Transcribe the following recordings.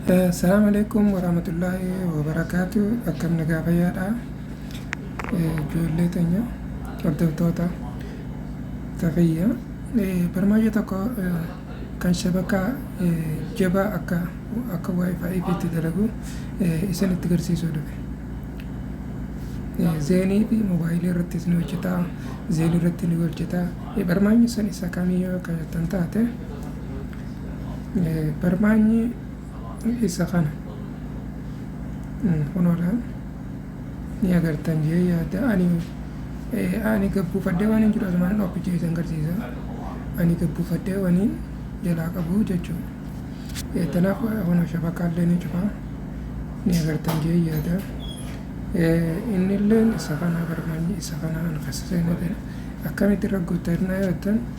Assalamu alaikum warahmatullahi wabarakatuh. Akkam nagaa fayyaadha. Ijoollee teenya hordoftoota tafayya barmaayya tokko kan shabakaa jabaa akka akka wifi fi itti dalagu isin itti garsiisuu dhufe. Zeenii fi moobaayilii irrattis ni hojjeta. Zeenii irratti ni hojjeta. Barmaayyi sun isa kamii yoo kan taate Barmaanyi isa kana. Kunoodha. Ni agartan jee yaada. Ani ani gabbuufadhee waan hin jiru asumaan dhokkicha isin garsiisa. Ani gabbuufadhee waan hin jalaa qabu jechuudha. Kanaaf kunoo shabakaallee ni cufa. Ni agartan jee yaada. Inni illee isa kana barmaanyi isa kana an kasa seenaa akkamitti irra guuttan yaaddan.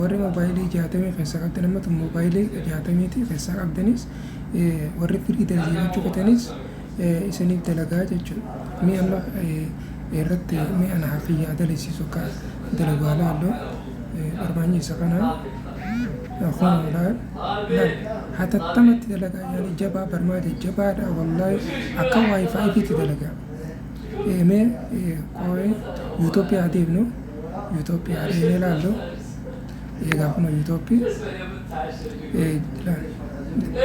Warri mobaayilii jaatamii keessaa qabdan amma tun mobaayilii jaatamiitii keessaa qabdanis warri firii dalagachuu fetanis isiniif dalagaa jechuudha. Mi amma irratti mi ana hafiyyaa dalisiisu akka dalagu haa laallu barbaanyi isa kana kunilaa hatattamatti dalagaa yaani jabaa barmaa jajjabaadha wallaahi akka waayifaayiitti dalagaa. Mee qooyee yuutooppiyaa deemnu. yuutooppi adeemee ilaallu eegaa kun yuutooppi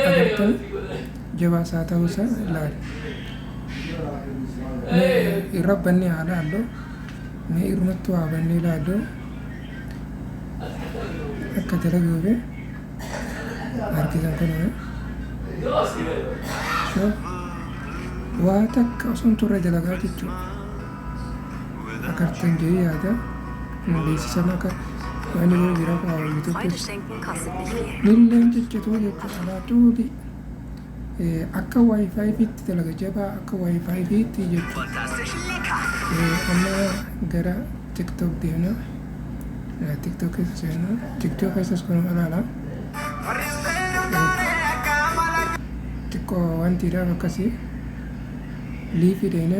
agartee jabaa isaa ta'uu isaa ilaali irra bannee haa ilaallu mee irrumattu haa bannee ilaallu akka dalaguu fi harkisan kun waa takka osoo hin turre dalagaa jechuudha. akka artan jedhee yaada na beeksisan akka waan inni jira akka hawwii tokkos miilleen ciccituu jechuudha laaptoopi akka waayifaayi fiitti dalaga jabaa akka waayifaayi fiitti jechuudha amma gara tiktok deemna tiktok keessa seenna tiktok keessas kun alaala xiqqoo wantiidhaaf akkasii liifii deemna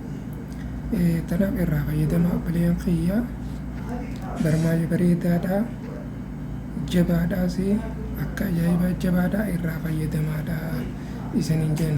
Tanaaf irraa fayyadama obboleeyyan kiyya barmaayya bareedaadha jabaadhaas akka ajaa'ibaa jabaadha irraa fayyadamaadha isaniin jenna.